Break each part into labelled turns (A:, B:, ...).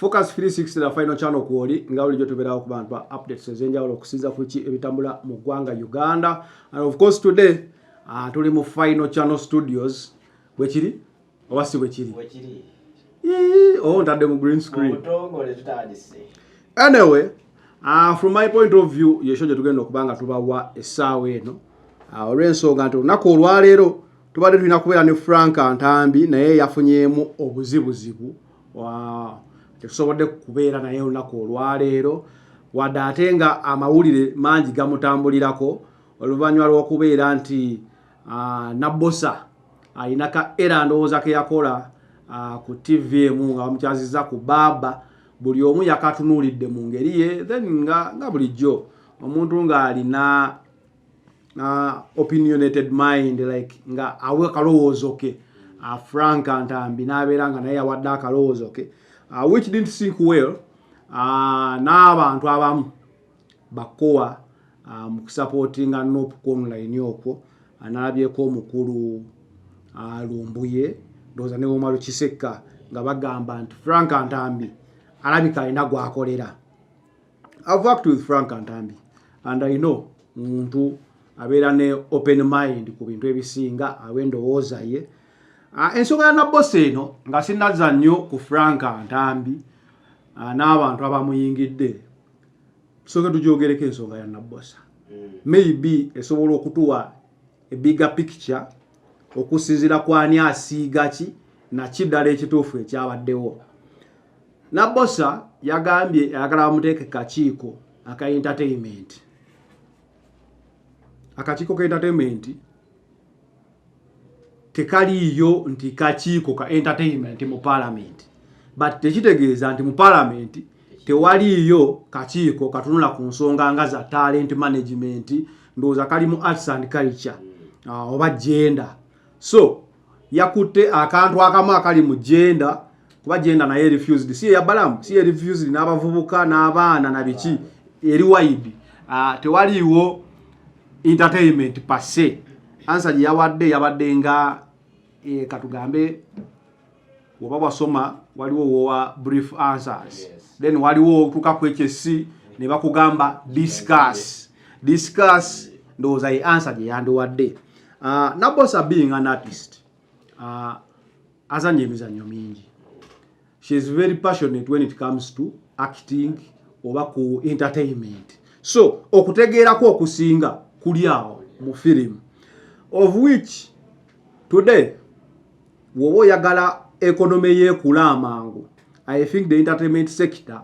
A: Focus 360 na final channel kuoli nga ulijo tubera ku bantu updates ezenja wala kusiza kuchi ebitambula mu gwanga Uganda and of course today uh, tuli mu final channel studios bwekiri oba si bwekiri oh, ntadde mu green screen anyway uh, from my point of view yesho gye tugenda okuba nga tubawa essaawa eno uh, olw'ensonga nti olunaku olwaleero tubadde tulina kubeera ne frank ntambi naye yafunyeemu obuzibuzibu tetusobodde kubeera naye olunaku olwaleero wadde ate nga amawulire mangi gamutambulirako oluvannyuma lw'okubeera nti ah, nabbosa alina ka era ndowooza ke yakola ah, ku tv emu nga bamukyaziza ku baaba buli omu yakatunuulidde mu ngeri ye then nga, nga bulijjo omuntu ng'alina uh, opinionated mind like nga awe akalowoozo ke uh, frank ntambi n'abeera nga naye awadde akalowoozo ke uh, which didn't sink well uh, n'abantu abamu bakowa uh, mu kusapootinga nop ku online okwo analabyeko omukulu uh, lumbuye ndowooza ne womalo kisekka nga bagamba nti frank ntambi alabika alina gwakolera i've worked with frank ntambi and i know muntu abeera ne open mind ku bintu ebisinga awendowooza ye Ah, ensonga ya nabbosa eno nga sinazza nnyo ku frank ntambi ah, n'abantu abamuyingidde tusooke tugyogereko ensonga ya nabbosa hmm. maybe esobola okutuwa ebiga picture okusinzira kwani asiiga ki naki ddala ekituufu ekyabaddewo nabbosa yagambye ayagala bamuteeke kakiiko aka entertainment akakiiko ka entertainment tekaliiyo nti kakiiko ka entertainment mu palamenti but tekitegeeza nti mu palamenti tewaliiyo kakiiko katunula ku nsonga nga za talent management ndowooza kali mu arts and culture uh, oba gender so yakutte akantu akamu akali mu jenda kuba jenda naye refused si eyabalamu si erefused n'abavubuka n'abaana na biki eri wide uh, tewaliiwo entertainment passe ansa gye yawadde yabadde nga e, katugambe oba wasoma waliwo wowa brief answers yes. then waliwo otuka ku ekyo essi ne bakugamba discuss discuss ndowooza ye answer gye yandiwadde uh, ah, nabosa being an artist uh, ah, azanya emizannyo mingi she is very passionate when it comes to acting oba ku entertainment so okutegeerako okusinga kuli awo mu film of which today Woba oyagala economy yekula amangu I think the entertainment sector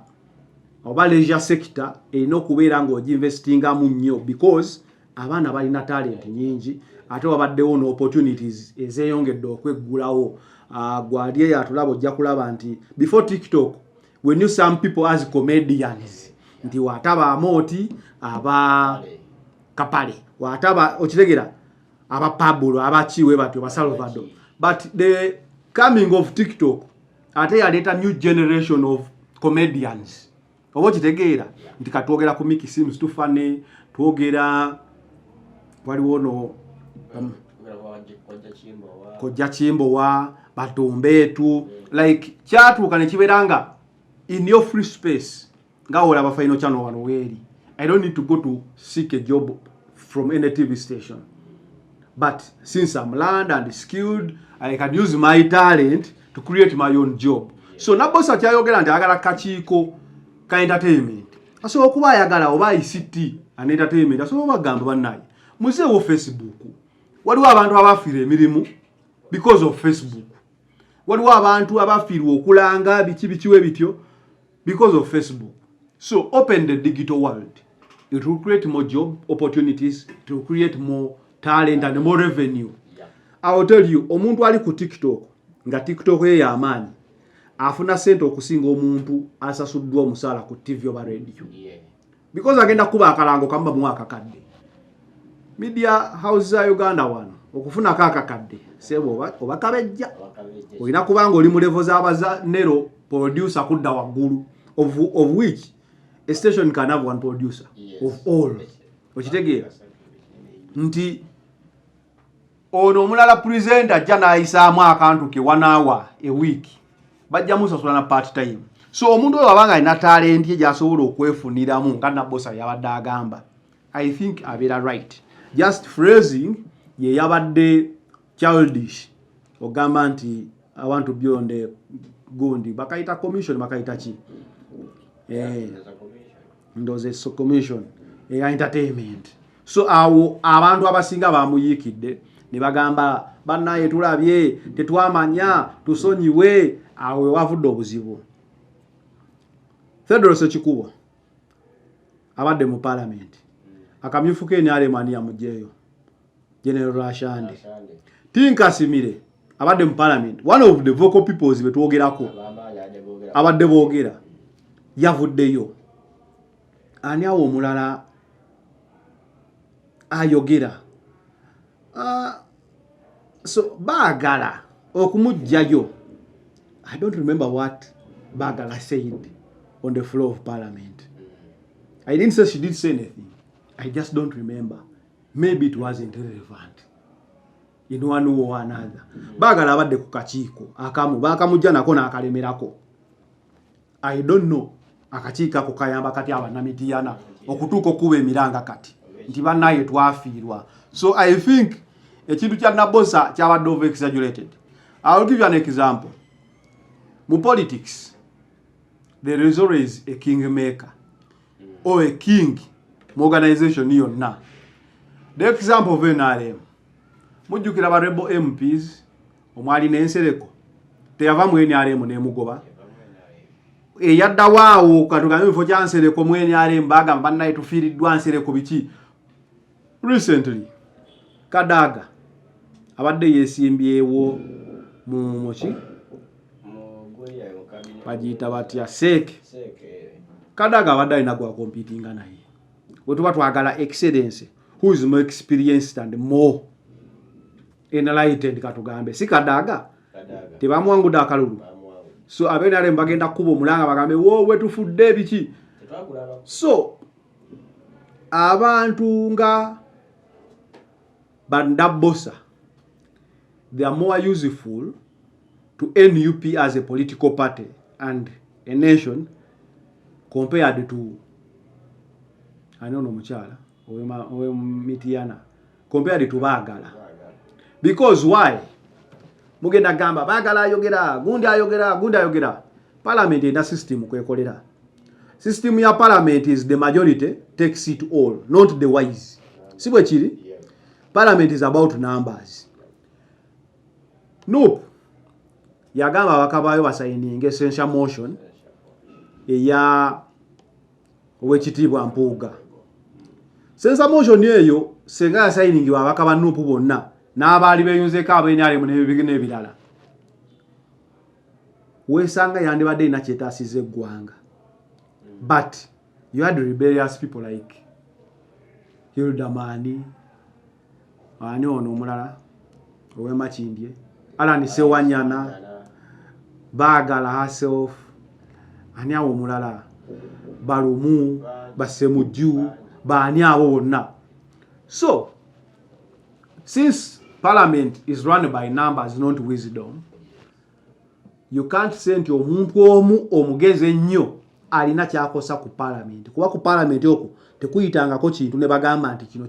A: oba leisure sector erina okubeera ng'oginvestingamu nnyo because abaana balina talenti nyingi ate wabaddewo no opportunities ezeyongedde okweggulawo ah, gwali eyo atulaba ojja kulaba nti before tiktok we knew some people as comedians nti wataba amooti aba kapale wataba okitegera aba Pablo aba chiwe batyo ba Salvador but the coming of TikTok ate yaleeta new generation of comedians oba okitegeera nti katwogera ku Mickey Sims too funny twogera waliwo no um, kojja kimbowa batumbeetu like kyatuuka ne kibeera nga in your free space nga olaba final channel wano weeri i don't need to go to seek a job from any tv station but since i'm learned and skilled i can use my talent to create my own job so nabosi akyayogera nti ayagala kakiiko ka entertainment asobola okuba ayagala oba ict an entertainment asobola obagamba bannaye muzeewo facebook waliwo abantu abafiira emirimu because of facebook waliwo abantu abafiirwa okulanga biki bikiwe bityo because of Facebook. So open the digital world. It will create more job opportunities, it will create more talent and more revenue. Yeah. I will tell you, omuntu ali ku TikTok, nga TikTok ye ya amaanyi, afuna sente okusinga omuntu asasuddwa omusaala ku TV oba radio. Yeah. because agenda kuba akalango kamu bamuwa akakadde media house za uganda wano okufunako akakadde sebo oba kabejja olina kubanga oli mulevo zabaza nero producer kudda waggulu of, of which a station can have one producer yes. of all okitegeera nti ono omulala presenter ajja n'ayisaamu akantu ke one hour a week bajja musasula na part time so omuntu oyo abanga alina talenti ye gyasobola okwefuniramu nga nabosa yabadde agamba i think abeera right just phrasing ye yabadde childish ogamba nti i want to be on the gundi bakayita commission bakayita ki eh, ndoze so commission eya eh, entertainment so awo abantu abasinga bamuyiikidde ne bagamba bannaye tulabye tetwamanya tusonyiwe awo wewavudde obuzibu thedoros ekikubo abadde mu palamenti akamyufu ke nrmani yamujeeyo general rashande tinkasimire abadde mu palamenti one of the vocal peoples betwogerako abadde boogera yavuddeyo ani awo omulala ayogera uh, so baagala okumugjayo i don't remember what baagala said on the floor of parliament i didn't say she did say anything i just don't remember maybe it wasn't relevant in one way or another baagala abadde ku kakiiko akamu baakamujja nako n'akalemerako I don't know akakiiko ako kayamba kati abanamidiyana okutuuka okukuba emiranga kati nti banaye twafiirwa so i think ekintu kya nabosa kyabadde over exaggerated i will give you an example mu politics there is always a king maker or a king mu organization yonna the example of nrm mujjukira ba rebel mps omwali n'ensereko teyava mu nrm nemugoba eyaddawo awo katugambe mufo kya nsereko mu nrm bagamba bannaye tufiiriddwa nsereko biki recently kadaaga abadde yesimbyewo mu muki bagiyita batya seeke kadaaga abadde alina gwakompitinga naye wetuba twagala excellence who is more experienced and more enlightened katugambe si kadaga tebamwangude akalulu so abe nale mbagenda kuba omulanga bagambe wowe tufudde ebiki so abantu nga bandabosa they are more useful to nup as a political party and a nation compared to anoono omukyala oyo mitiyana compared to baagala because why mugenda gamba baagala ayogera gundi ayogera gundi ayogera parliament erina system kwekolera system ya parliament is the majority takes it all not the wise si bwe kiri parliament is about numbers nup yagamba abakabaayo basayininga essential motion eya yeah. owekitiibwa mpuuga sensa motion eyo senga yasayiningi babaka ba nupu bonna n'abaali beyunzeeko abenaremu nebibigina ebirala wesanga yandibadde erina kyetasiza eggwanga but you had rebellious people like hilda mani ani ono omulala owemakindye alan sewanyana bagala herself ani awo omulala balumu basemujju baani abo bonna so since parliament is run by numbers not wisdom you can't say nti omuntu omu omugezi ennyo alina kyakosa ku palamenti kuba ku palamenti okwo tekuyitangako kintu ne bagamba nti kino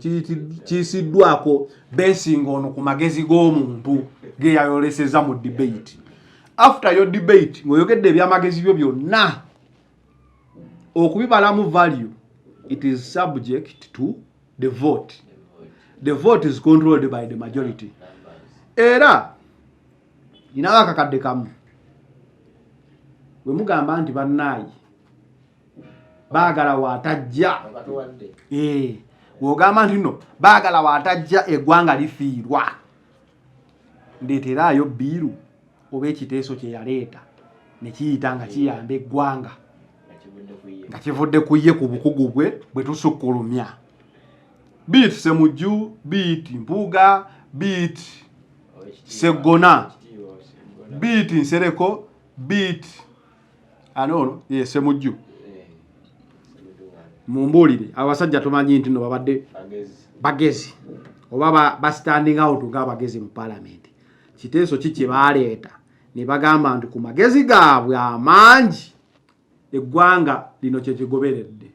A: kiyisiddwako besinga ono ku magezi g'omuntu geyayoleseza mu debate after yo debate ng'oyogedde ebyamagezi byo byonna okubibalamu value it is subject to the vote the vote is controlled by the majority era ninawo akakadde kamu wemugamba nti bannaayi baagala waatajja eh, wogamba nti no baagala waatajja eggwanga lifiirwa ndeeteraayo biiru oba ekiteeso kye yaleeta ne kiyita nga kiyamba eggwanga nga kivudde ku ye ku bukugu bwe bwe tusukkulumya biit semujju biit mpuuga biit seggona beat nsereko beat ani ono ye semujju eh, mumbuulire abasajja tumanyi nti no babadde bagezi oba ba standing out ng'abagezi mu palamenti kiteeso ki kye baaleeta ne bagamba nti ku magezi gaabwe amangi eggwanga lino kye kigoberedde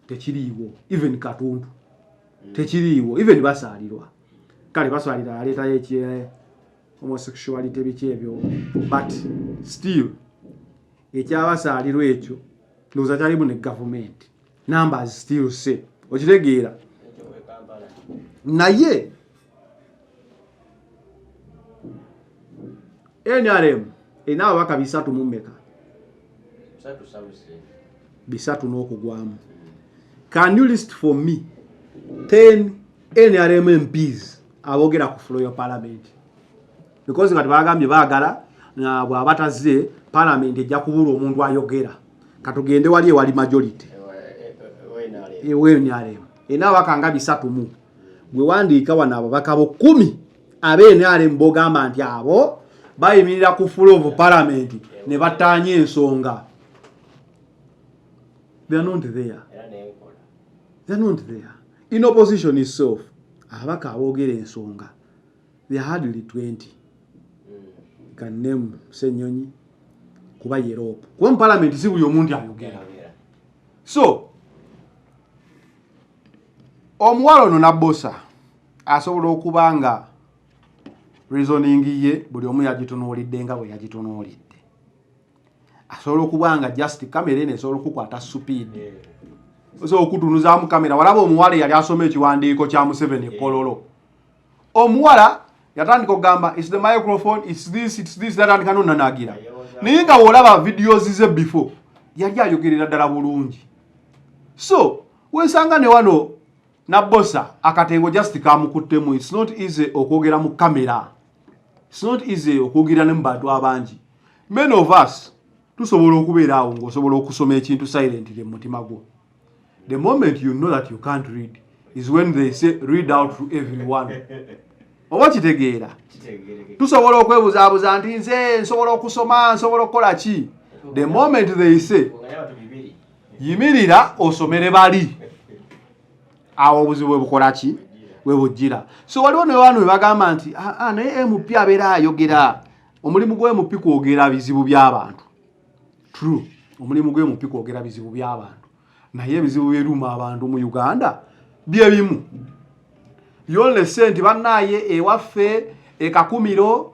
A: tekiriiwo even katundu mm. tekiriiwo even basaalirwa kale basaalira aleetayo ekye eh, homosexuality biki ebyo but still ekyabasaalirwa ekyo ndowooza kyalimu ne gavumenti numbers still say okitegeera naye nrm erina ababaka bisatu mu mmeka bisatu n'okugwamu can you list for me 10 nrm mps abogera ku fulo ya palamenti because nga tebagambye baagala bwaba tazze palamenti ejja kubula omuntu ayogera katugende wali ewali majority ewnrm erina ababaka nga bisatu mu gwe wandiika wano ababaka bo kumi abenrm bogamba nti abo bayimirira ku full of parliament ne bataanya ensonga in opposition itself ababaka aboogera ensonga the hardly 20 kanemu senyonyi kuba yerope kuba mu parliament si buli omuntu ayogera so omuwala ono nabosa asobola okuba nga reasoning ye buli omu yagitunuulidde nga bwe yagitunuulidde asobola okuba nga just kamera eno esobola okukwata supiid osa okutunuzaamu kamera walaba omuwala eyali asoma ekiwandiiko kya museveni ekololo omuwala yatandika okugamba its the microphone its this its this yatandika nonanagira naye nga wolaba videos ze before yali ayogerera ddala bulungi so wesanga ne wano nabbosa akatengo just kamukuttemu its not easy okwogera mu kamera its not easy okwogera ne mu bantu abangi men of us tusobola okubeera awo ngaosobola okusoma ekintu silently mumutima gwo the moment you know that you can't read is when they say read out to everyone oba kitegeera tusobola okwebuzaabuza nti nze nsobola okusoma nsobola okukola ki the moment they say yimirira osomere bali awo obuzibu webukola ki webujjira so waliwo newaanu webagamba nti ah, ah, naye mp abeera ayogera omulimu gwe mp kwogera bizibu by'abantu true omulimu gwe mp kwogera bizibu by'abantu naye ebizibu byeruma abantu mu uganda byebimu yolese nti banaye ewaffe ekakumiro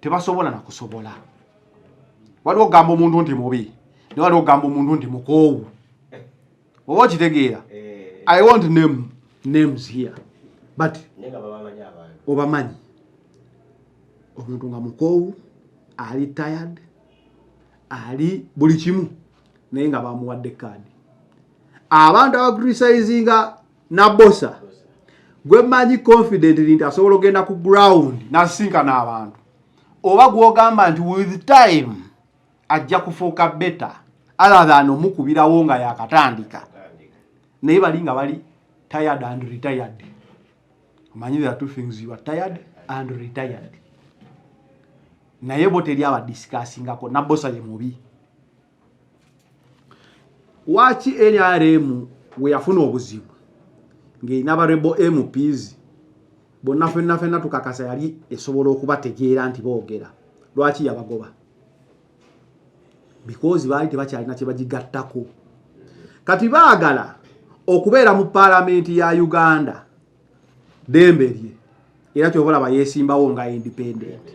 A: tebasobola na kusobola waliwo ogamba omuntu nti mubi ne waliwo ogamba omuntu nti mukoowu oba okitegeera eh. i want name names here but obamanyi omuntu nga mukoowu ali tired ali buli kimu naye nga bamuwadde kaadi abantu abakritisizinga Nabosa gwe manyi confidently nti asobola ogenda ku ground nasinkana abantu oba gwogamba nti with time ajja kufuuka beta aladhan omukubirawo nga yakatandika naye bali nga bali tired and retired omanyi the two things you are tired and retired naye bo teri abadisikaasingako nabosa ye mubi lwaki nrm weyafuna obuzibu ng'erina barebo mps bonna fenna fenna tukakasa yali esobola okubategeera nti boogera lwaki yabagoba bikozi baali tebakyalina kyebagigattako kati baagala okubeera mu paalamenti ya uganda dembe lye era kyoba olaba yesimbawo nga independent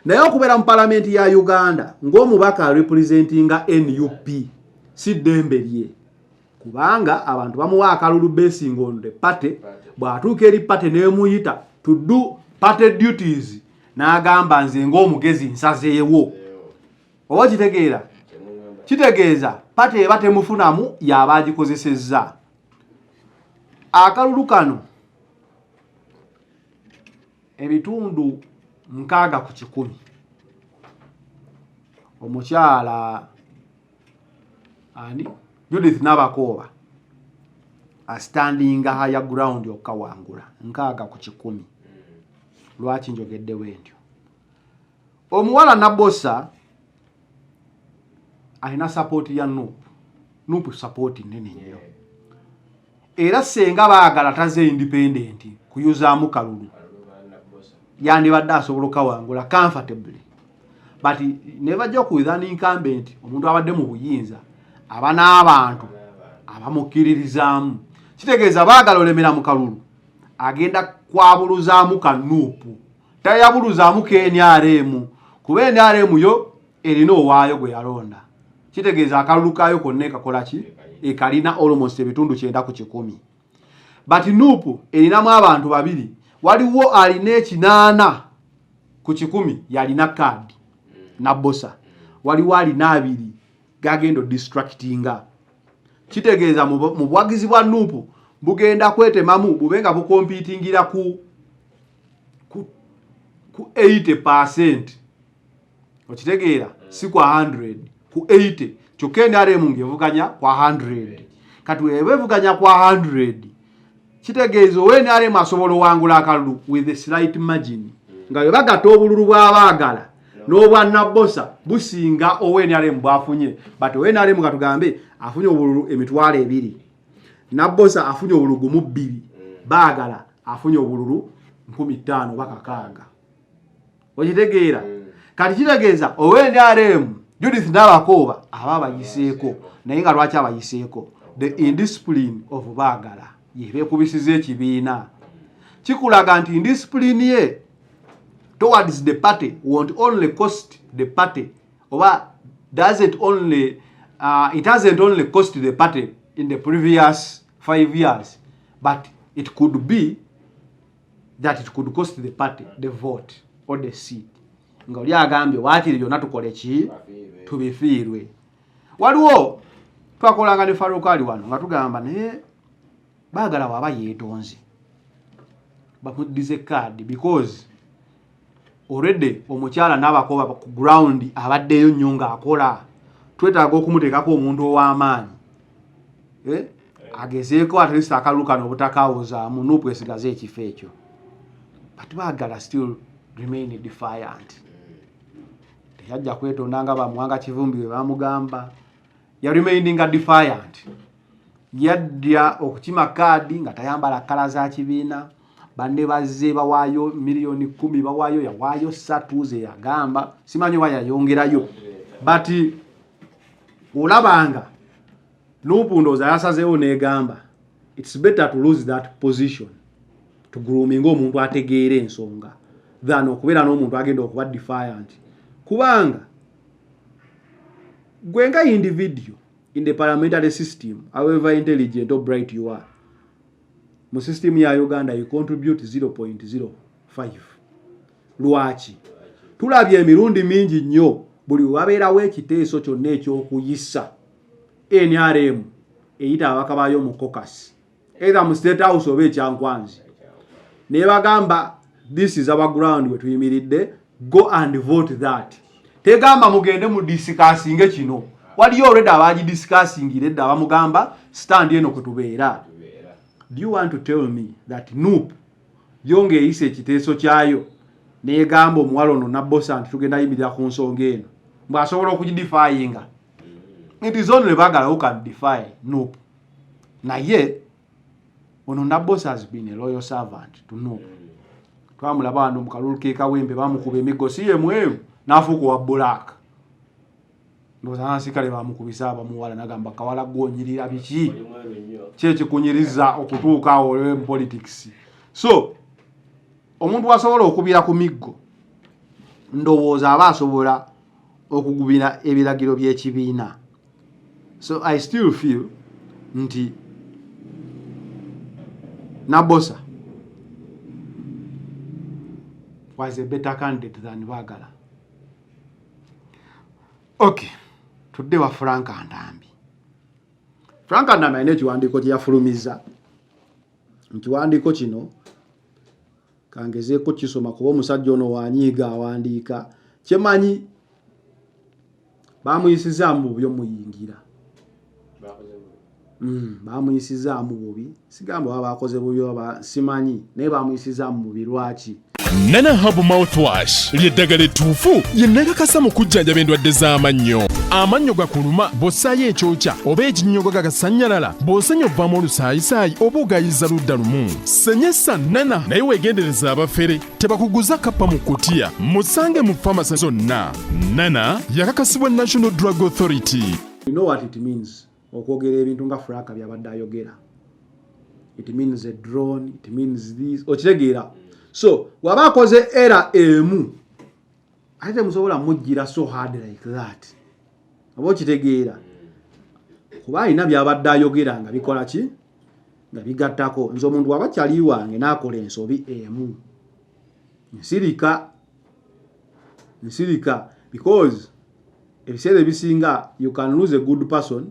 A: naye okubeera mu palamenti ya uganda ng'omubaka arepresentinga nup si dembe lye kubanga abantu bamuwa akalulu basing on the party bw'atuuka eri party nemuyita to do party duties n'agamba nze ng'omugezi nsazeewo oba kitegeera kitegeeza party eba temufunamu yaba agikozesezza akalulu kano ebitundu nkaaga ku kikumi omukyala ani judith nabakooba astandinga haya ground okukawangula nkaaga ku kikumi lwaki njogeddewo entyo omuwala nabosa alina sapooti ya nup nup sapooti nene nnyo era senga baagala taze independenti kuyuzaamu kalulu yandibadde asobola okawangula comfortably but never joke with an incumbent omuntu abadde mu buyinza aba n'abantu abamukkiririzaamu kitegeeza baagala olemera mu kalulu agenda kwabuluzaamu kanuupu tayabuluzaamu knrm kuba nrm yo erina owaayo gwe yalonda kitegeeza akalulu kaayo konna ekakola ki ekalina almost ebitundu kyenda ku kikumi but nup erinamu abantu babiri waliwo alina ekinaana ku kikumi yalina kaadi nabosa waliwo alina abiri gagenda odistractinga kitegeeza mu buwagizi bwa nup bugenda kwetemamu bube nga bukompitingira ku ku, ku 80 percent okitegeera mm. si kwa 100 ku 80 kyokka enrm ngevuganya kwa 100 kati weba evuganya kwa 100 kitegeeza owe enrm asobola owangula akalulu with a slight margin mm. nga webagata obululu bwabaagala n'obwanabbosa businga owe enrm bwafunye but owe enrm katugambe afunye obululu emitwalo ebiri nabbosa afunye obululu gumu bbiri baagala afunye obululu nkumi ttaano oba kakaaga okitegeera mm. kati kitegeeza ow'enrm judith nabakooba aba abayiseeko naye nga lwaki abayiseeko the indiscipline of baagala yebekubisiza ekibiina kikulaga nti indiscipline ye towards the party won't only cost the party oba does it only uh, it hasn't only cost the party in the previous five years but it could be that it could cost the party the vote or the seat nga oli agambye waakiri byonna tukole ki tubifiirwe waliwo twakolanga ne farukaali wano nga tugamba naye baagala waba yeetonze bamuddize kaadi because already omukyala n'abakoba ku ground abaddeyo nnyo ng'akola twetaaga okumuteekako omuntu ow'amaanyi eh? agezeeko atlist akalulu kano obutakawozaamu nuupu esigaze ekifo ekyo but baagala still remain defiant teyajja kwetonda nga bamuwanga kivumbi we bamugamba ya remaininga defiant yadda okukima kaadi nga tayambala kala za kibiina banne bazze bawaayo miliyoni kumi bawaayo yawaayo satu ze yagamba simanyi oba yayongerayo but olabanga nobundooza yasazeewo negamba its better to lose that position tugroominga omuntu ategeera ensonga than okubeera n'omuntu agenda okuba defiant kubanga gwe nga individual in the parliamentary system however intelligent or bright you are mu system ya uganda you contribute 0.05 lwaki tulabye emirundi mingi nnyo buli wabeerawo ekiteeso kyonna ekyokuyisa nrm eyita ababaka baayo mu cocas either mu state house oba ekyankwanzi naye bagamba this is our ground wetuyimiridde go and vote that tegamba mugende mu disikasinge kino waliyo olwedda abagi disikasingira edda abamugamba stand eno kwetubeera do you want to tell me that nup yo ngaeyisa ekiteeso kyayo negamba omuwala ono nabosa nti tugenda yimirira ku nsonga eno mbwasobola okugidifayinga it is only bagala who can defy nup naye ono nabos has been a loyal servant to know mm. twamulaba wano mukalulu kekawembe bamukuba emiggo si yemweru nafuuka owa black ndowooza nasikale bamukubisa abamuwala nagamba kawala gwonyirira biki kyekikunyiriza okutuuka awo mu politics so omuntu wasobola okubira ku miggo ndowooza aba asobola okugubira ebiragiro by'ekibiina so i still feel nti nabosa was a better candidate than bagala okay tudde wa frank ndambi frank ndambi alina ekiwandiiko kye yafulumiza mu kiwandiiko kino kangezeeko kisoma kuba omusajja ono wanyiiga awandiika kyemanyi bamuyisizaamu bubi omuyingira hmm, bamuyisizaamu bubi sigamba baba bakoze bubi oba simanyi naye bamuyisizaamu bubi lwaki nana habu
B: mouthwash lyeddagala ettuufu yennakakasa mu kujjanjaba endwadde z'amannyo amannyo gakuluma bw'ossaayo ekyokya oba ekinnyogo gagasannyalala bw'osenya obvamu olusaayisaayi oba ogayiza ludda lumu senyesa nana naye weegendereza abafere tebakuguza kappa mu kutiya musange mu famasi zonna nana yakakasibwa national drug authority you know what it
A: means okwogera ebintu nga fraka byabadde ayogera it means a drone it means this okitegeera so waba akoze era emu ate temusobola mujjira so hard like that oba okitegeera kuba alina byabadde ayogera nga bikola ki nga bigattako nze omuntu waba kyali wange nakola ensobi emu nsirika nsirika because ebiseera ebisinga you can lose a good person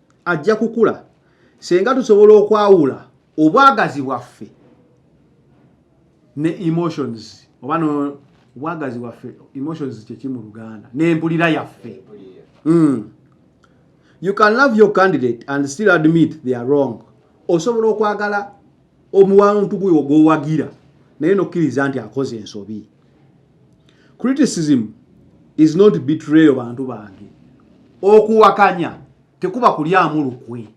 A: ajja kukula senga tusobola okwawula obwagazi bwaffe ne emotions oba no obwagazi bwaffe emotions kyeki mu luganda n'empulira yaffe mm. you can love your candidate and still admit they are wrong osobola okwagala omuwantu guyo gwowagira naye nokkiriza nti akoze ensobi criticism is not betrayal bantu bange okuwakanya tekuba kulyamu lukwe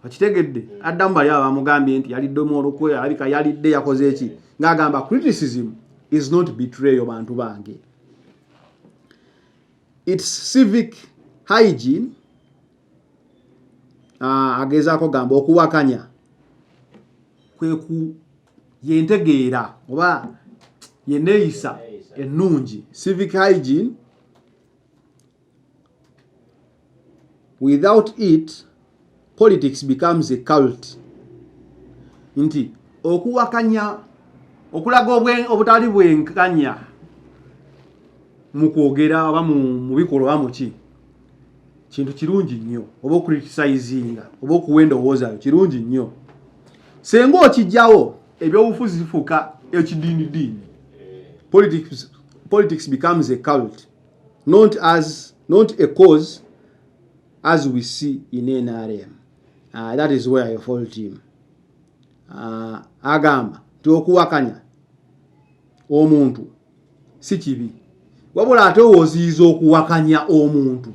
A: okitegedde addamu bali abo bamugambye nti yaliddemu olukwe alabika yalidde yakoze eki ng'agamba criticism is not betrayal bantu bange its civic hygiene ah, agezaako gamba okuwakanya kweku yentegeera oba yeneeyisa ennungi civic hygiene without it politics becomes a cult nti okuwakanya okulaga obutali bwenkanya mu kwogera oba mu bikolwa oba muki kintu kirungi nnyo oba okuritisayizinga oba okuwa endowoozayo kirungi nnyo senga okijjawo ebyobufuzi bifuuka ekidiini diini politics, politics becomes a cult not as not a cause as we see in nrm uh, ah, that is where your fault team uh, ah, agamba nti okuwakanya omuntu si kibi wabula ate owoziyiza okuwakanya omuntu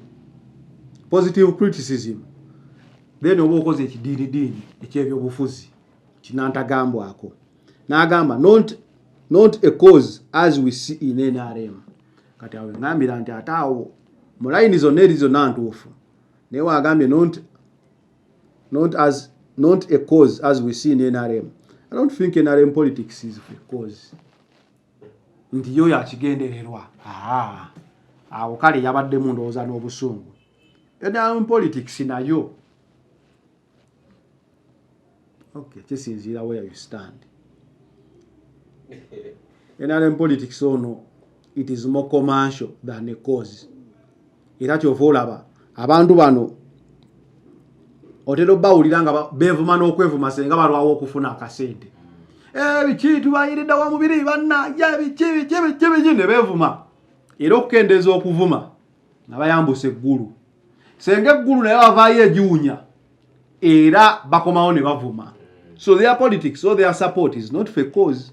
A: positive criticism then oba okoze ekidiinidiini ekyebyobufuzi kinantagambwako n'agamba not, not a cause as we see in nrm kati awo engambira nti ate awo mu layini zonna eri zonna ntuufu naye wagambye not, not, as, not a cause as we see in nrm i don't think nrm politics is a cause nti yoyo akigendererwa awo kale yabaddemu ndowooza n'obusungu edamu politics nayo okay kisinziira where you stand nrm politics ono it is more commercial than a cause era kyova olaba abantu bano otera obawulira nga bevuma n'okwevuma senga balwawo okufuna akasente eh, biki tubayiridda wa mubiri bannange biki biki biki biki ne bevuma era okukendeeza okuvuma nga bayambusa eggulu senga eggulu naye bavaayo egiwunya era bakomawo ne bavuma so their politics or their support is not for cause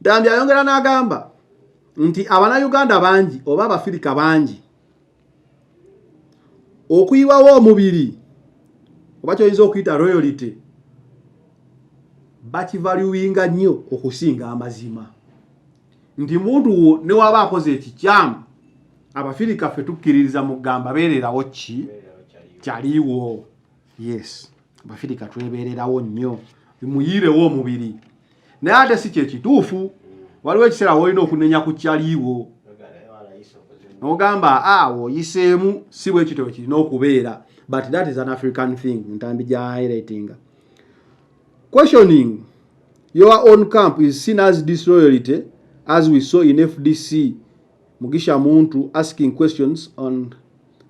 A: Dambi ayongera n'agamba nti abanayuganda bangi oba abafirika bangi okuyiwawo omubiri oba kyoyinza okuyita royalty bakivaluwinga nnyo okusinga amazima nti muntu wo newaba akoze ekikyamu abafirika ffe tukkiririza mugamba beererawo ki kyaliwo yes abafirika twebererawo nnyo bimuyiirewo omubiri naye ate si kyekituufu waliwo ekiseera wolina okunenya ku kyaliiwo nogamba awo oyiseemu si bwekityo kirina okubeera but that is an african thing ntambi gya highlightinga questioning your own camp is seen as disloyalty as we saw in fdc mugisha muntu asking questions on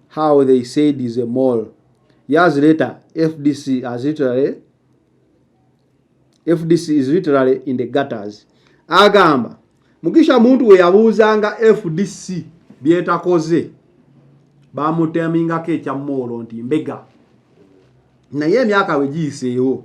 A: how they said is a mall Years later, FDC as literally FDC is literally in the gutters. Agamba Mugisha muntu we yabuuzanga FDC byetakoze bamutemingako ekya moolo nti mbega naye emyaka we giyiseewo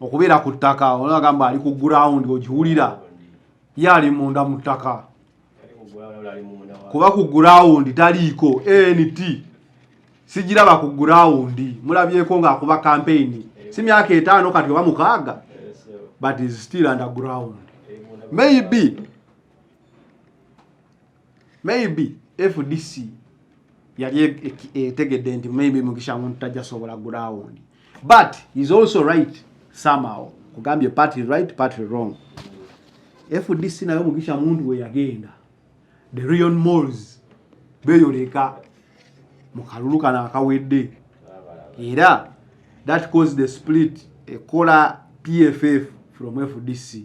A: okubeera ku ttaka olagamba ali ku ground ogiwulira ye ali munda mu ttaka kuba ku ground taliiko ant sigiraba ku ground mulabyeko ng'akuba kampeyini si myaka etaano kati oba mukaaga but is still under ground maybe maybe fdc yali e- e- etegedde nti maybe mugisha muntu tajja sobola ground but is also right somehow kugambye party right party wrong fdc nayo mugisha muntu we yagenda the real malls beyoleka mu kalulu kano akawedde era that caused the split ekola pff from fdc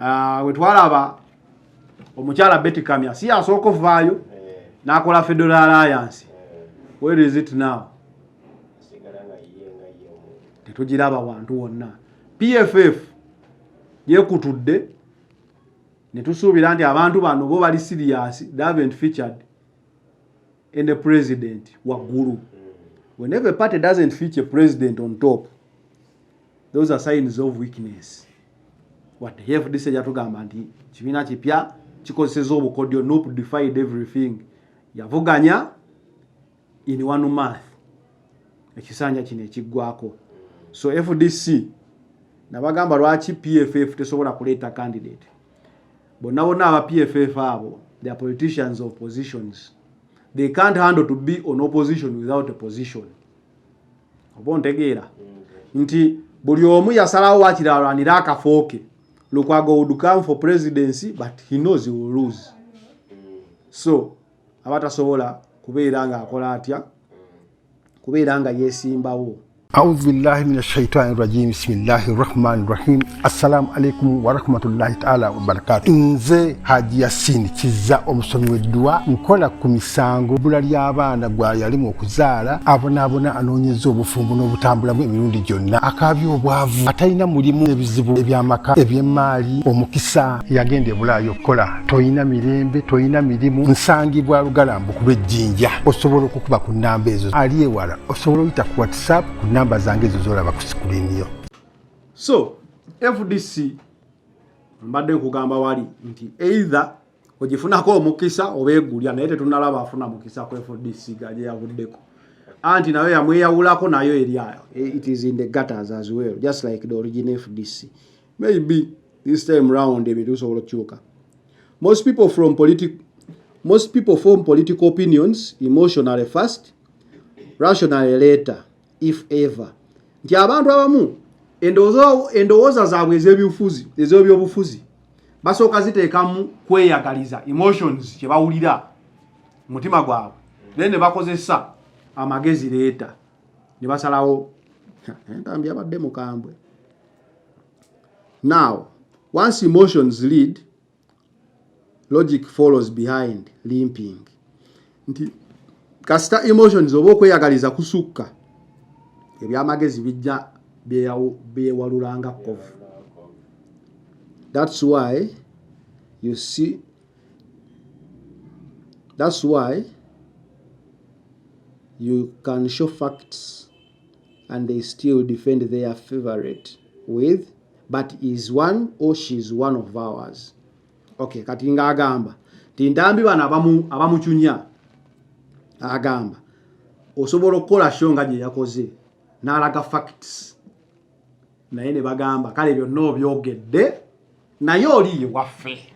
A: ah, wetwalaba omukyala Betty Kamya si yasooka ovaayo eh. n'akola Federal Alliance eh. where is it now tetugiraba wantu wonna PFF yekutudde ne tusuubira nti abantu bano bo bali serious they haven't featured in the president waggulu mm. whenever a party doesn't feature president on top those are signs of weakness what fdc yatugamba nti kibiina kipya kikozeseza obukodyo nup defied everything yavuganya in one month ekisanja kino ekiggwako so fdc nabagamba lwaki pff tesobola kuleeta candidate bonna bonna aba pff abo the politicians of positions they can't handle to be on opposition without a position oba ontegeera nti buli omu yasalawo wakiri alwanire akafo ke lukwago would come for presidency but he knows he will lose so aba tasobola kubeera ng'akola atya kubeera nga yeesimbawo auzubillahi
C: min ashaitani rajim bisimillahi rahmani rahim assalamu alaikum warahmatullahi taala wabarakatu nze haji yasini kiza omusomi wedduwa nkola ku misango bula ly'abaana gwayalimu okuzaala abonaabona anoonyeza obufumbo n'obutambulamu emirundi gyonna akaabya obwavu atalina mulimu ebizibu ebyamaka eby'emmaali omukisa yagenda ebulaayo okukola tolina mirembe tolina mirimu nsangibwa lugalambu kuba ejjinja osobola okukuba ku nnamba ezo ali ewala osobola oyita ku whatsapp ku nnamba zange ezo zolaba ku sikuliniyo so
A: fdc mbadde nkugamba wali nti either ogifunako omukisa oba egulya naye tetunalaba afuna mukisa ku fdc gajeyavuddeko anti nayo yamweyawulako nayo eryayo eh, it is in the gutters as well just like the origin fdc maybe this time round ebintu bisobola okukyuka most people from political Most people form political opinions emotionally first, rationally later. if ever nti abantu abamu endowooza zaabwe ez'ebyobufuzi ez'ebyobufuzi basooka ziteekamu kweyagaliza emotions kye bawulira mutima gwabwe naye ne bakozesa amagezi leeta ne basalawo entambi abadde mukambwe now once emotions lead logic follows behind limping nti kasita emotions oba okweyagaliza kusukka ebyamagezi bijja byewalulanga kovu that's why you see that's why you can show facts and they still defend their favorite with but is one or she is one of ours okay kati nga agamba ti ndambi bana abamu abamuchunya agamba osobola okukola show nga gye yakoze n'alaga facts naye ne bagamba kale byonna obyogedde naye oli ye waffe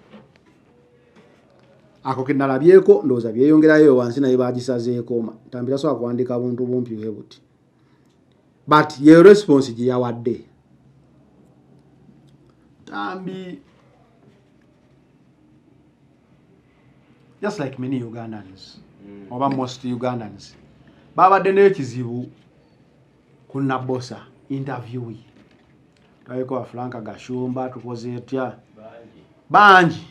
A: ako kenalabyeko ndowooza byeyongerayo wansi naye bagisazeekoma ntambira sobola kuwandika buntu bumpi bwe buti but yeyo response gye yawadde tambi just like many ugandans mm. oba most ugandans babadde n'ekizibu ku Nabosa interview ye tulabeko wa Frank Gashumba tukoze etya bangi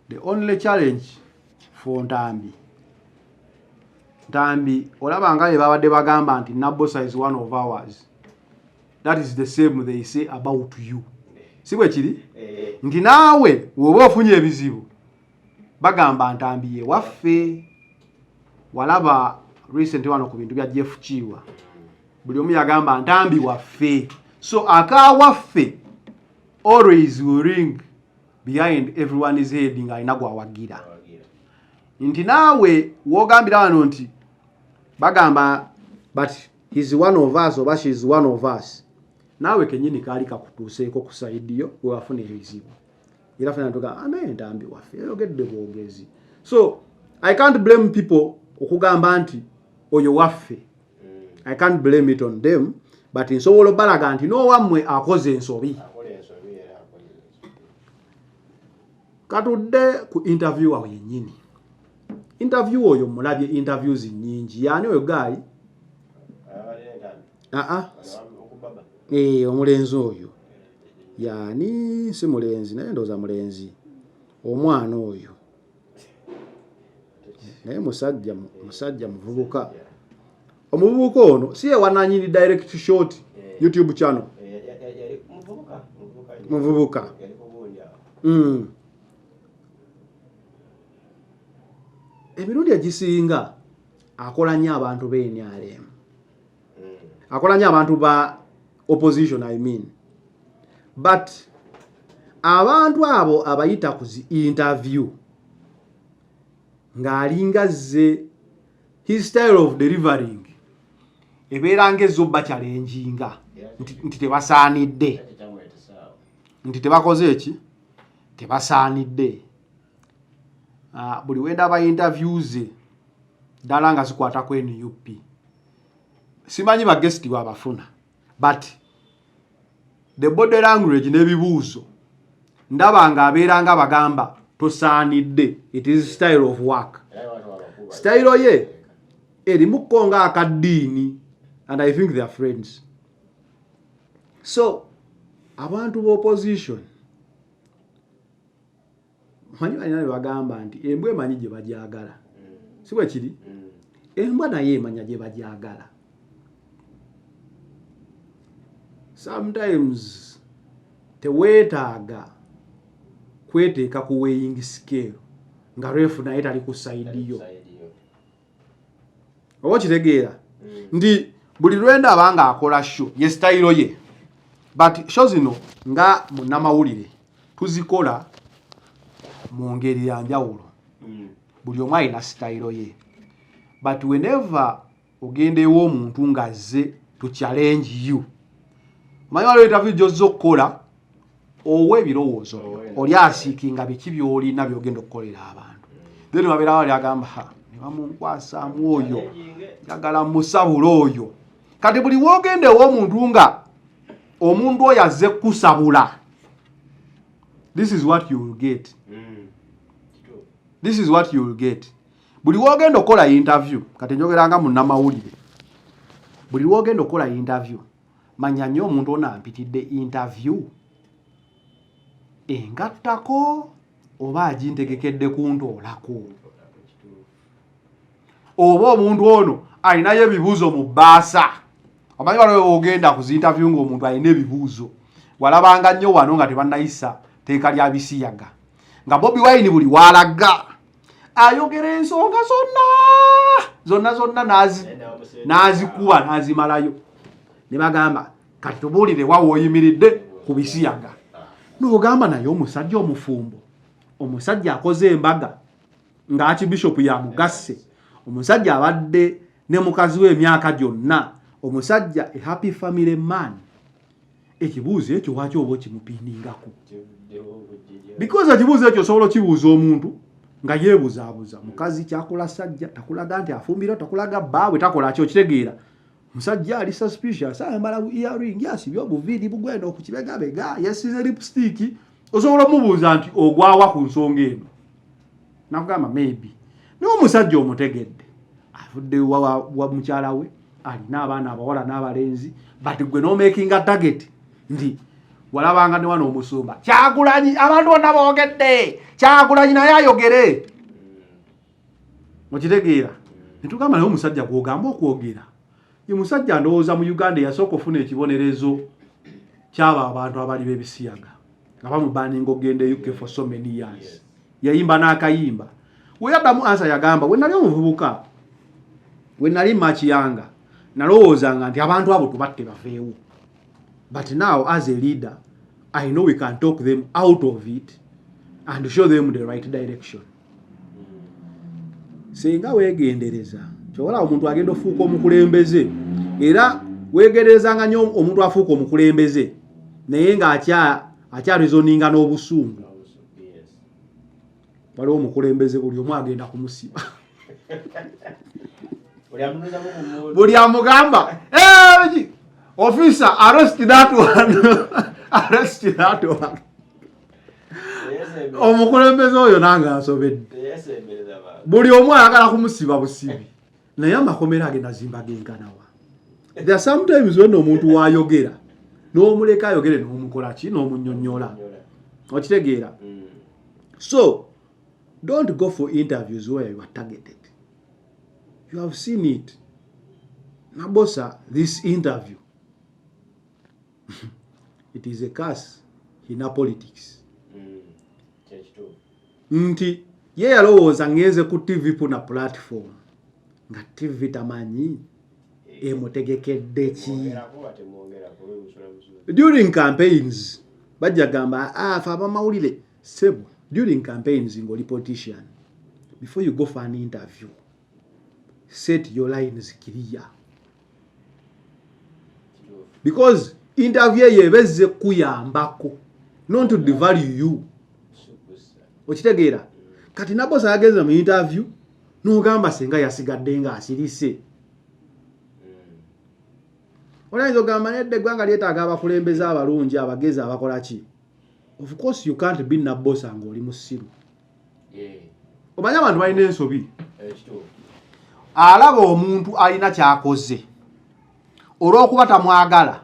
A: the only challenge for Ntambi Ntambi olaba nga bebabadde bagamba nti Nabosa is one of ours that is the same they say about you si bwe kiri eh. nti naawe woba ofunye ebizibu bagamba ntambi ye waffe walaba recent wano ku bintu bya Jeff Kiwa buli omu yagamba ntambi waffe so aka waffe always will ring behind everyone is head nga alina gwawagira nti naawe wogambira wano nti bagamba but his one of us oba she is one of us naawe kenyini kaali kakutuuseeko ku saidiyo wewafuna ebizibu era fena tuga anaye ah, ntambi waffe yogedde bwogezi so i can't blame people okugamba nti oyo waffe i can't blame it on them but nsobola obalaga nti nowammwe akoze ensobi katudde ku interview awo yennyini interview oyo mulabye interviews nyingi yaani oyo gaayi aa ee eh, omulenzi oyo yaani si mulenzi naye ndowooza mulenzi omwana oyo naye musajja musajja muvubuka omuvubuka ono si yewananyini direct short eh. youtube channel eh, muvubuka hmm. emirundi egisinga akola nnyo abantu b'enyalemu akola nyo abantu ba opposition i mean but abantu abo abayita ku zi interview ng'alinga zze his style of delivering ebeera ng'ezza obba kyalenjinga nti tebasaanidde nti tebakoze eki tebasaanidde Ah, buli wenda aba interviews dala nga zikwata ku NUP simanyi ba guest wa bafuna but the body language ne bibuzo ndaba nga abera nga bagamba tosanidde it is style of work style ye eri mukonga akadini and i think they are friends so abantu bo opposition manyi balina bye bagamba nti embwa emanyi gye bagyagala mm. si bwe kiri mm. embwa naye emanya gye bagyagala sometimes teweetaaga kweteeka ku weighing scale nga refu naye tali ku saidi yo oba okitegeera mm. nti buli lwendaba nga akola sho ye sitayiro ye but sho zino nga munnamawulire tuzikola mu ngeri ya njawulo mm. buli omu alina sitayiro ye but whenever ogenda ew'omuntu ng'azze to challenge you omanyi waliwo interview gyozza okukola owa ebirowoozo byo oli asiikinga biki byolina byogenda okukolera abantu then wabeera wali agamba ha nebamunkwasamu oyo njagala musabula oyo kati buli wogenda ewomuntu nga omuntu oyo azze kukusabula this is what you will get mm. this is what you will get buli wogenda okukola interview kati njogeranga munamawulire buli wogenda okukola interview manya nyo omuntu ono ampitidde interview engattako oba agintegekedde kuntoolako oba omuntu ono alinayo ebibuuzo mu bbaasa omanyi waliwo ogenda ku zinterview nga omuntu alina ebibuuzo walabanga nnyo wano nga tebannayisa teeka lya bisiyaga nga bobi wayini buli walaga ayogera ensonga zonna zonna zonna n'azikuba n'azimalayo ne bagamba kati tubuulire wa wooyimiridde ku bisiyaga n'ogamba naye omusajja omufumbo omusajja akoze embaga ng'aki bishopu yamugasse omusajja abadde ne mukazi we emyaka gyonna omusajja a happy family man ekibuuzo ekyo waki oba okimupindingako because ekibuuzo ekyo osobola okibuuza omuntu nga yebuzabuza mukazi kyakula sajja takulaga nti afumbira takulaga baawe takola kyo kitegeera musajja ali suspicious ayambala earring yasibye obuviiri bugwenda okukibegabega yesize lipstick osobola omubuuza nti ogwawa ku nsonga eno nakugamba maybe naye omusajja omutegedde avudde wa mukyala we alina abaana abawala n'abalenzi but gwe nomakinga target nti walabanga ne wano omusumba kyagulanyi abantu bonna boogedde kyagulanyi naye ayogere okitegeera netugamba naye omusajja gwogamba okwogera ye musajja ndowooza mu uganda eyasooka ofuna ekibonerezo kyabo abantu abali bebisiyaga nga bamubaninga ogenda e uk for so many years yayimba n'akayimba weyaddamu ansa yagamba we nali omuvubuka we nali makiyanga nalowoozanga nti abantu abo tubatte baveewo but now as a leader i know we can talk them out of it and show them the right direction singa wegendereza kyobola omuntu agenda ofuuka omukulembeze era wegenderezanga nyo omuntu afuuka omukulembeze naye nga akyarezoninga n'obusungu waliwo omukulembeze buli omu agenda kumusiba buli amugamba ofisa arrest that one arrest that one omukulembeze oyo nange ansobedde buli omu ayagala kumusiba busibi naye amakomera age nazimba genkanawa the sometimes wena omuntu wayogera n'omuleka ayogere n'omukolaki n'omunyonyola okitegeera mm. so don't go for interviews where you are targeted you have seen it nabosa this interview it is a curse ina politics mm. nti ye yalowooza ngenze ku tv puna platform nga tv tamanyi eh. emutegekedde ki during campaigns bajja gamba afe ah, abamawulire sebo during campaigns ngoli politician before you go for an interview set your lines clear because interview eyo ebezze kuyambako not to devalue you okitegeera kati nabosa yagenze mu interview nogamba singa yasigadde nga asirise hmm. oyinza ogamba nedde eggwanga lyetaaga abakulembeze abalungi abagezi abakola ki of course you can't be nabosa ngaoli musiru omanyi abantu balina ensobi alaba omuntu alina kyakoze olwokuba tamwagala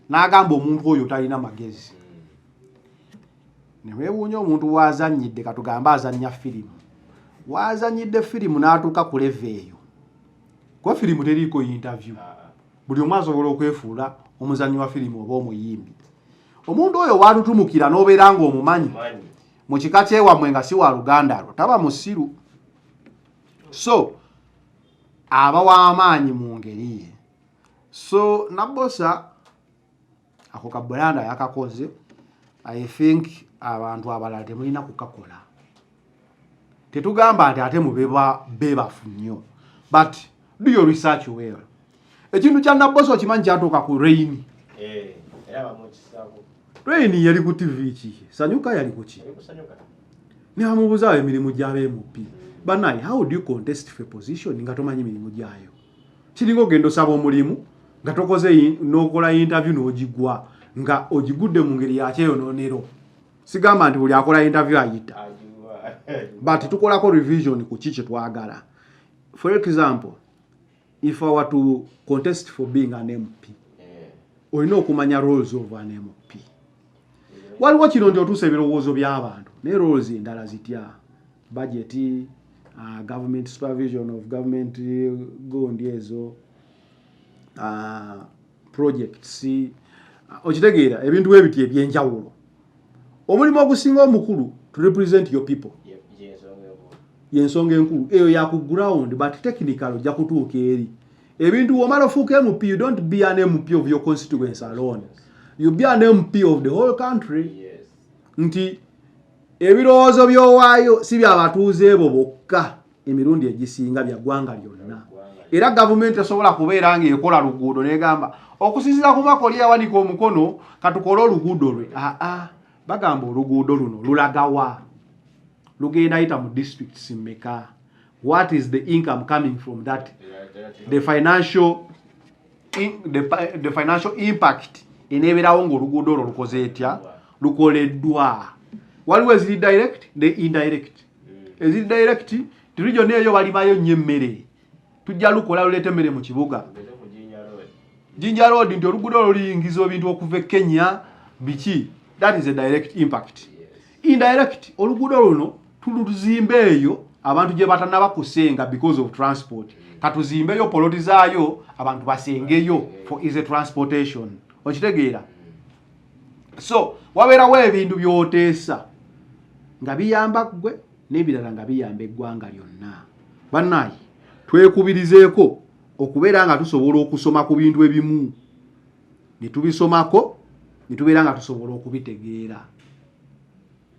A: n'agamba omuntu oyo talina magezi newewuunya omuntu wazanyidde katugambe azanya firimu wazanyidde firimu n'atuuka ku leva eyo kuba firimu teriiko yintavyu ah, ah. buli omu asobola okwefuula omuzanyi wa firimu oba omuyimbi omuntu oyo watutumukira n'obeera nga omumanyi mu kika kyewamwe nga si wa luganda lwo taba musiru so aba w'amaanyi mu ngeri ye so nabosa ako ka bulanda yakakoze i think abantu abalala temulina kukakola tetugamba nti ate mubeba bebafu nnyo but do your research well ekintu kya nabbosa okimanyi kyatuuka ku reyini eh, reyini yali ku tivi ki sanyuka yali kuki nebamubuzawo emirimu gyaba emupi hmm. banaye how do you contest fe position nga tomanyi mirimu gyayo kiringa ogenda osaba omulimu nga tokoze nokola interview nogigwa nga ogigudde mu ngeri yakyeyononero sigamba nti buli akola interview ayita but tukolako revision ku ki kyetwagala for example if i were to contest for being an mp eh. olina okumanya roles of an mp waliwo kino nti otuusa ebirowoozo by'abantu naye roles endala zitya budget uh, government supervision of government uh, gondi ezo uh, projects okitegeera ebintu bwe biti ebyenjawulo omulimu ogusinga omukulu to represent your people yensonga enkulu eyo ya ku ground but technical ojja kutuuka eri ebintu womala ofuuka mp you don't be an mp of your constituency alone you be an mp of the whole country nti ebirowoozo byowaayo si byabatuuze ebo bokka emirundi egisinga bya ggwanga lyonna era gavumenti esobola kubeera ng'ekola luguudo negamba okusinzira ku mwaka oli yawanika omukono katukole oluguudo lwe aa bagamba oluguudo luno lulagawa lugenda yita mu districts meka what is the income coming from that the financial in, the, the financial impact eneeberawo ng'oluguudo olwo lukoze etya lukoleddwa waliwo eziri direct ne indirect eziri direct ti region eyo balibayo nnyo emmere tujja lukola luleeta emmere mu kibuga jinja road nti oluguudo olwo luyingiza ebintu okuva e kenya biki that is a direct impact indirect oluguudo luno tuluzimba eyo abantu gye batanaba kusenga because of transport katuzimbeyo poloti zaayo abantu basengeyo for easy transportation okitegeera so wabeerawo ebintu byoteesa nga biyamba ggwe n'ebirala nga biyamba eggwanga lyonna bannaye twekubirizeeko okubeera nga tusobola okusoma ku bintu ebimu ne tubisomako ne tubeera nga tusobola okubitegeera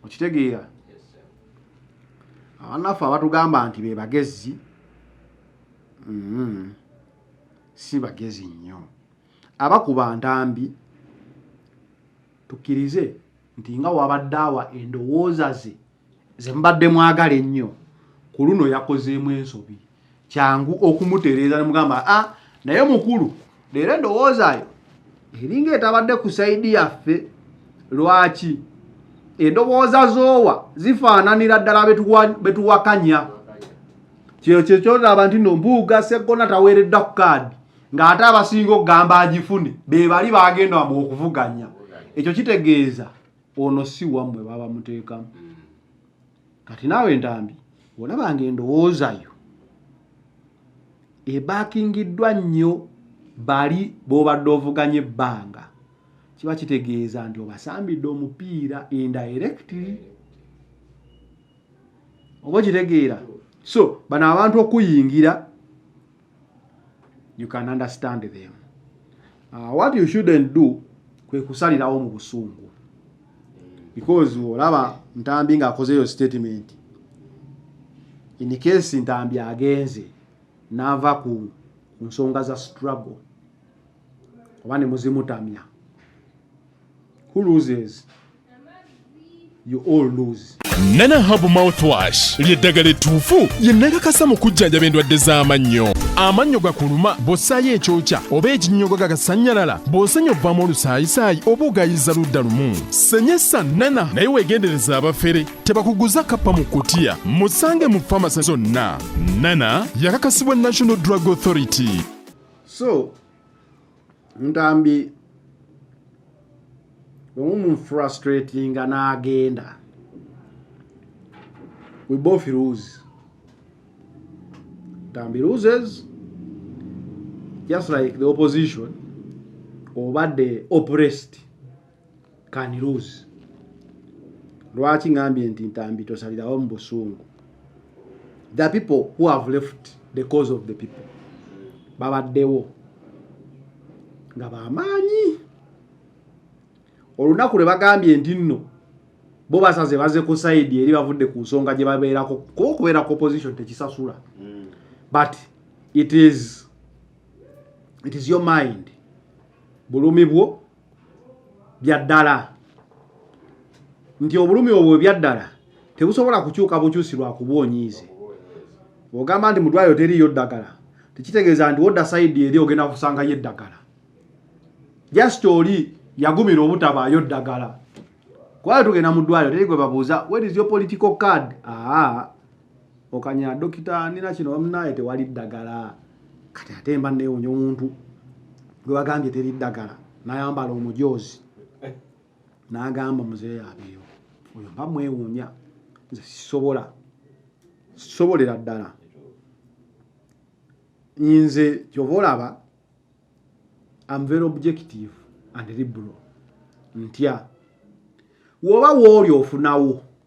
A: okitegeera abanaffe abatugamba nti be bagezi mm-hmm. si bagezi nnyo abakuba ntambi tukkirize nti nga wabadde awa endowooza ze ze mubadde mwagala ennyo ku luno yakozeemu ensobi kyangu okumutereeza nemugamba a ah, naye mukulu leero endowoozayo eringa etabadde ku saidi yaffe lwaki endowooza zoowa zifaananira ddala betuwakanya kyeyo kyekyolaba nti no mbuuga seggona taweereddwa ku kaadi ng'ate abasinga okugamba agifune be bali bagenda wamu okuvuganya ekyo kitegeeza ono si wammwe baba muteekamu mm. kati naawe entambi olaba nga endowoozayo ebakingiddwa nnyo bali b'obadde ovuganya ebbanga kiba kitegeeza nti obasambidde omupiira indirecti oba okitegeera so bano abantu okuyingira you can understand them uh, what you shouldn't do kwe kusalirawo mu busungu because olaba ntambi nga akoze yo statement in case ntambi agenze nava ku nsonga za struggle oba ne muzimutamya who loses you all lose. Nana Herbal
B: Mouthwash ly'eddagala ettuufu lye nakakasa mu kujjanjaba endwadde z'amannyo. Amannyo gakuluma bw'ossaayo ekyokya oba ekinnyogo gagasannyalala bw'osenya ovaamu olusaayisaayi oba ogayiza ludda lumu. Senyesa Nana naye weegendereze abafere tebakuguza kappa mu kkutiya. Musange mu famasi zonna. Nana yakakasibwa National Drug Authority. So
A: ntambi omumufrustratinga n'agenda we both lose ntambi loses just like the opposition oba the oppressed Can Rose lwaki ngambye nti ntambi tosalirawo mu busungu the people who have left the cause of the people babaddewo nga bamaanyi olunaku lwe bagambye nti nno bo basaze baze ku saidi eri bavudde ku nsonga gye babeerako kuba okubeera ku opposition tekisasula mm. but it is it is your mind bulumi bwo byaddala nti obulumi obwo byaddala tebusobola kukyuka bukyusi lwa kuba onyiize ogamba nti mudwaliro teriyo ddagala tekitegeeza nti wodda saidi eri ogenda kusangayo eddagala just oli yagumira obutabaayo ddagala kubayo tugenda mu ddwaliro teri gwe babuuza where is your political card aa ah. okanya dokita nina kino bamunaye tewali ddagala kati ate mba newunya omuntu gwebagambye teri ddagala nayambala omujoozi nagamba muzeeyo abeeyo oyo mba mwewunya nze sisobola sisobolera ddala nze kyova olaba am very objective and liberal ntya woba wooli ofunawo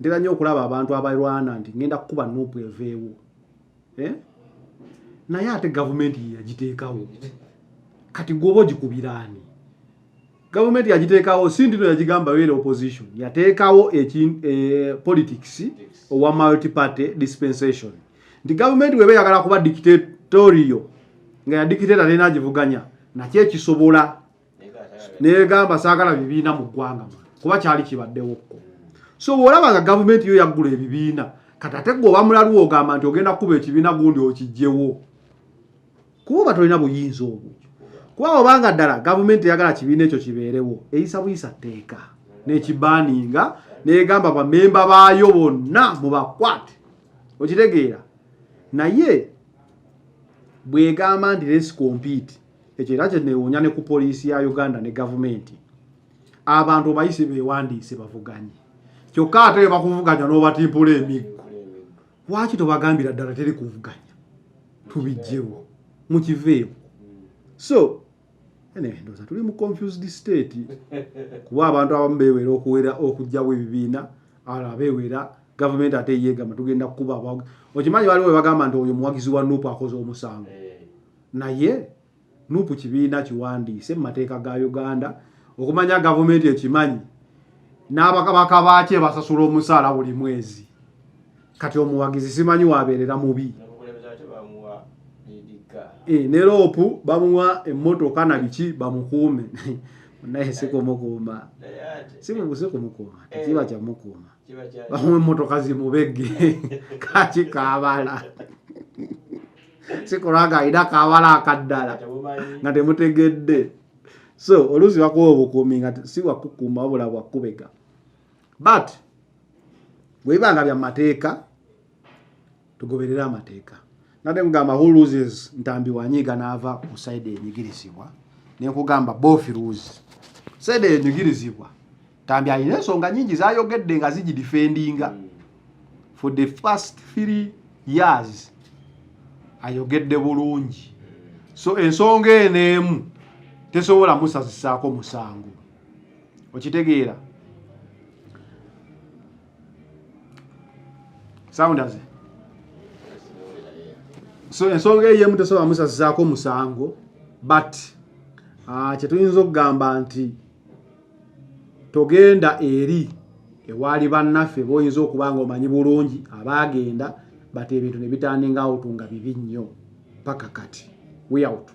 A: ntera nnyo okulaba abantu abalwana nti ngenda kukuba nuupu eveewo eh? naye ate gavumenti yeyagiteekawo kati gwoba ogikubiraani gavumenti yagiteekawo si ndino yagigamba yoera opposition yateekawo eh, politics owa multiparty dispensation nti gavumenti weba eyagala kuba dictatorio nga yadikiteta lena agivuganya nakyo ekisobola negamba sagala bibiina mu ggwanga kuba kyali kibaddewo kko so olaba nga gavumenti yo yaggula ebibiina kati ate gwe oba mulalu ogamba nti ogenda kukuba ekibiina gundi okijjewo kuba oba tolina buyinza obwo kuba obanga ddala gavumenti eyagala kibiina ekyo kibeerewo eyisa buyisa tteeka nekibaaninga negamba bamemba baayo bonna mubakwate okitegeera naye bwegamba nti lesi kompiti ekyo era kyenewuunya ne ku poliisi ya uganda ne gavumenti abantu obayise bewandiise bavuganye kyokka ate webakuvuganya n'obatimpula emiggo lwaki tobagambira ddala teri kuvuganya tubijjewo mukiveewo so ndoza tuli mu confused state kuba abantu abamu bewera okuwera okujjawo ebibiina ala bewera gavumenti ate yegamba tugenda kukuba okimanyi waliwo webagamba nti oyo muwagizi wa nupu akoze omusango eh. Naye nupu kibiina kiwandiise mu mateeka ga Uganda okumanya gavumenti ekimanyi n'abakabaka baakye basasula omusaala buli mwezi kati omuwagizi simanyi wabeerera mubi eh, ne loopu bamuwa emmotoka na biki bamukuume naye sikumukuuma sikumukuuma tekiba eh. kyamukuuma bamuwa emmotoka zimubegge kaki kaabala sikulwaga alina kawala akaddala nga temutegedde so oluusi bakuwa obukuumi nga si wakukuuma wabula bwakubega but bwebiba nga bya mateeka tugoberere amateeka nade mugamba who loses ntambi wanyiiga naava ku saidi enyigirizibwa nenkugamba bofi lose saidi enyigirizibwa ntambi alina ensonga nyingi zayogedde nga zigidifendinga mm. for the first three years ayogedde bulungi so ensonga eno emu tesobola musazisaako musango okitegeera soundaze so ensonga eyo emu tesobola musazisaako musango but ah, kyetuyinza okugamba nti togenda eri ewaali bannaffe boyinza okuba nga omanyi bulungi abaagenda bati ebintu ne bitandinga awutu nga bibi nnyo paka kati weyawutu